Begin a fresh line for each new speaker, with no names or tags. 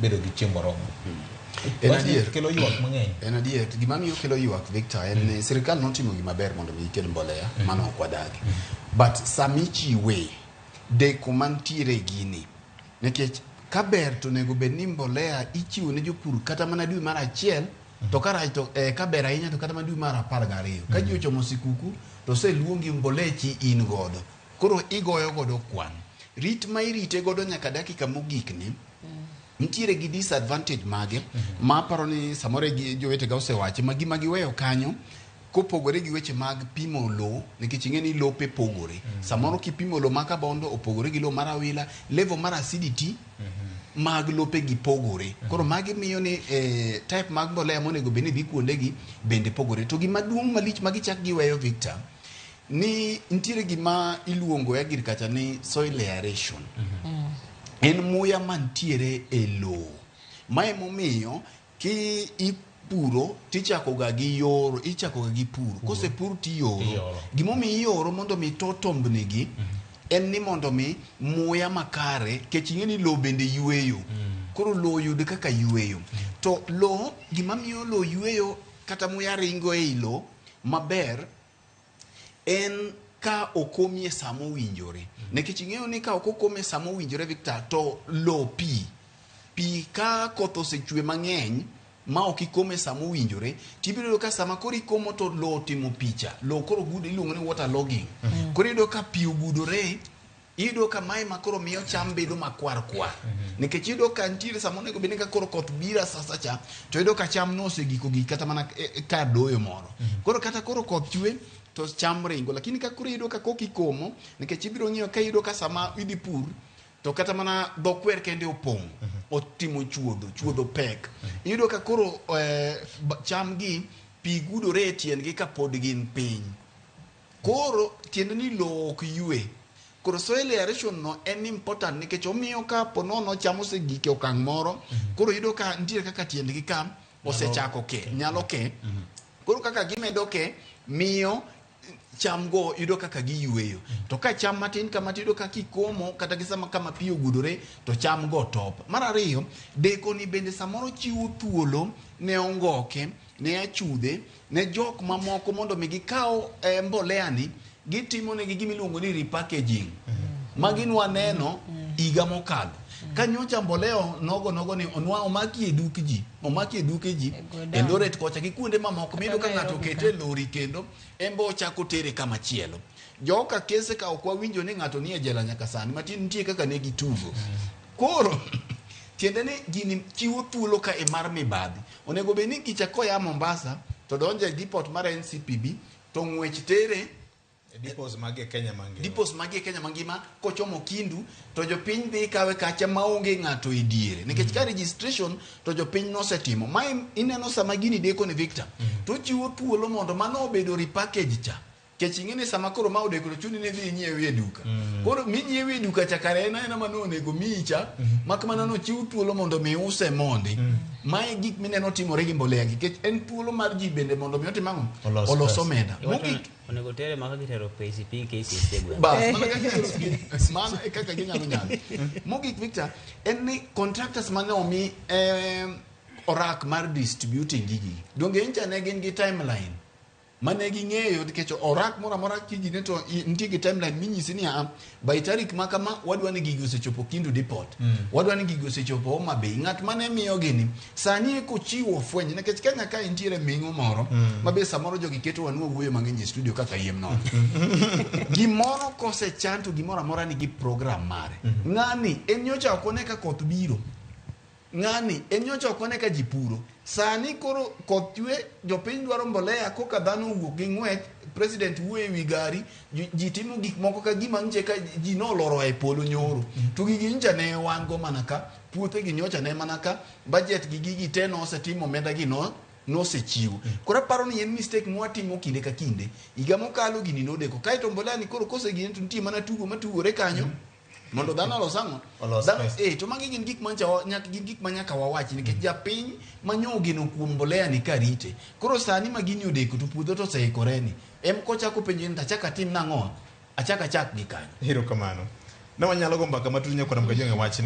bedo gi chieng' moromo En Wachni
adier. kelo ywak mang'eny en
adier gima miyo
kelo ywak victor en ni sirikal notimo gima ber mondo mi ikel mbolea mano ok wadagi but sami chiwe deko mantiere e gini nikech ka ber to onego bed ni mbolea ichiwo ne jopur kata mana dwe mar achiel to ka rach to eh, ka ber ahinya to kata mana dwe mar apar gariyo ka ji ochomo sikuku to oseluongi mbolea chi in godo Koro igoyo godo kwan. Rit ma irite godo nyaka dakika mogik ni nitiere gi disadvantage mage mhm. ma aparo ni samoro e jowetega osewache ma gima giweyo kanyo kopogore gi weche mag pimo lowo nikech ing'e ni lope pogore mm -hmm. samoro kipimo lowo ma kabondo opogore gi lowo mar awila level mar acidity mm -hmm. mag lope gi pogore mm -hmm. koro magi miyo ni eh, type mag mbolea monego bed ni dhi kuondegi bende pogore to gimaduong' malich ma gichak giweyo victor ni nitiere gima iluongo e agriculture ni soil aeration mm. en muya mantiere e lowo ma emomiyo ki ipuro tichakoga gi yoro ichakoga gi puro mm. kosepur tiyoro gimomiyo iyoro mondo mi to tombnigi mm -hmm. en ni mondo mi muya makare kech ing'e ni lowo bende yueyo mm. koro lowo yud kaka yueyo mm. to lowo gimamiyo lowo yueyo kata muya ringo e i lowo maber en ka okomi e sa mowinjore nikech ing'eyo ni ka ok okomi e sa mowinjore Victor to lo pi pi ka koth osechwe mang'eny ma ok ikomo e sa mowinjore tibiro yudo ka sama koro ikomo to lo otimo picha lo koro gudo iluongo ni water logging koro iyudo ka pi ogudore iyudo ka mae ma koro miyo cham bedo makwar kwar mhm. nikech iyudo ka nitiere sama onego bed ni ka koro koth bira sasa cha to iyudo ka cham nosegiko gi kata mana e, e, kar doyo moro mhm. koro kata koro koth chwe to cham ringo lakini ka koro iyudo ka koki komo nikech ibiro ng'iyo ka iyudo ka sama idhi pur to kata mana dho kwer kende opong' mhm. otimo chuodho chuodho pek iyudo ka koro eh, cham gi pi gudore e tiendgi ka pod gin piny Koro tiende ni lowo ok ywe. Koro soil aeration no en important nikech omiyo ka po nono cham osegik e okang' moro, mhm. koro yudo ka nitiere kaka tiendgi ka osechako ke, nyalo ke. Mhm. Koro kaka gimedo ke, miyo cham go yudo kaka giyueyo. Mhm. To ka cham matin kama tiyudo kaka ikomo kata gi sama kama pi ogudore to cham go top. Mar ariyo, deko ni bende samoro chiwo thuolo ne ongoke ne achudhe ne jok mamoko mondo mi gikaw eh, mbolea ni gitimo negi gima iluongo ni repackaging mm-hmm. magi nwa neno mm-hmm. higa mokalo mm-hmm. ka nyocha mbolea nogo nogo ni onwa omaki e duk ji omaki e duke ji e loret kocha gi kuonde mamoko miyudo ka ng'ato okete e lori kendo embe ochako tere kama chielo joka kese ka ok wawinjo ni ng'ato nie jela nyaka sani matin nitie kaka ne gitugo koro tiende ni gini chiwo thuolo ka e mar mibadhi Onego bed ni kicha koya Mombasa to donjo e depot mar NCPB to ng'wech tere E Depots
mag e Kenya mangima. depots magi e Kenya mangima kochomo Kindu to jopiny dhi kawe kacha maonge ng'ato e diere nikech ka registration to jopiny nosetimo ma ineno sama gini deko ni Victor to chiwo thuolo mondo mano obedo repackage cha Kech ing'e ni sama koro ma odeko to chuni ni dhi inyiewi e duka. Mm. Koro minyiewi e duka cha kare en aena ma nonego miyi cha, mm. mak mana nochiw thuolo mondo mi use mondi. Mm. Ma e gik mineno timore gi mbolea gi. Kech en thuolo mar ji bende mondo mi otim ang'o? Olos, Olos omenda. Mogik. Onego tere
maka gitero pesi pi kesi isegwe. Bas, mana kaka gitero pi.
Mana e kaka ginyalo nyalo. Mogik Victor, en ni contractors mane omi eh, orak mar distributing gigi. Donge incha ne gin gi timeline? mane ging'eyo nikech orak moro amora kijine to i- nitie gi timeline minyisi niya by tarik ma kama wadwa ni gigi osechopo kindu depot wadwa ni gigi osechopo homa bay ng'at mane miyo gini sani eko chiwo fweny nikech kenya ka intiere ming'o moro ma be samoro jogi keto wanwa wuoyo mang'eny e studio kaka yiem nono gimoro kosechan to gimoro amora nigi program mare ng'ani en nyocha ok one ka koth biro Ng'ani e nyocha ok one ka ji puro. Sani koro koth chwe, jopiny dwaro mbolea, koka dhano owuok gi ng'wech, president wuoyo e wi gari, ji- ji timo gik moko ka gima nje ka ji noloro e polo nyoro. To gigi nyocha ne wan go mana ka, puothe gi nyocha ne mana ka, budget gi gigi te nosetimo omenda gi no nosechiwo. Koro aparo ni en mistake mwatimo kinde ka kinde. Higa mokalo gini nodeko. Kaeto mbolea ni koro kosegine to nitie mana tugo matugore kanyo. mondo dhano olos ang'o Olos Dhano- pesa. eh, to magi gin gik mancha wa- nyaka- gin gik ma nyaka wawach nikech japiny manyo ogeno kuom mbolea ni ka rite koro sani ma gini odeko to puodho to oseikoreni em kochako penjo ni tachak atim nang'o
achak
achak
gi
kanyo
Hero kamano. Ne
wanyalo
go mbaka matut nyakwanam ka
jonge
wachni.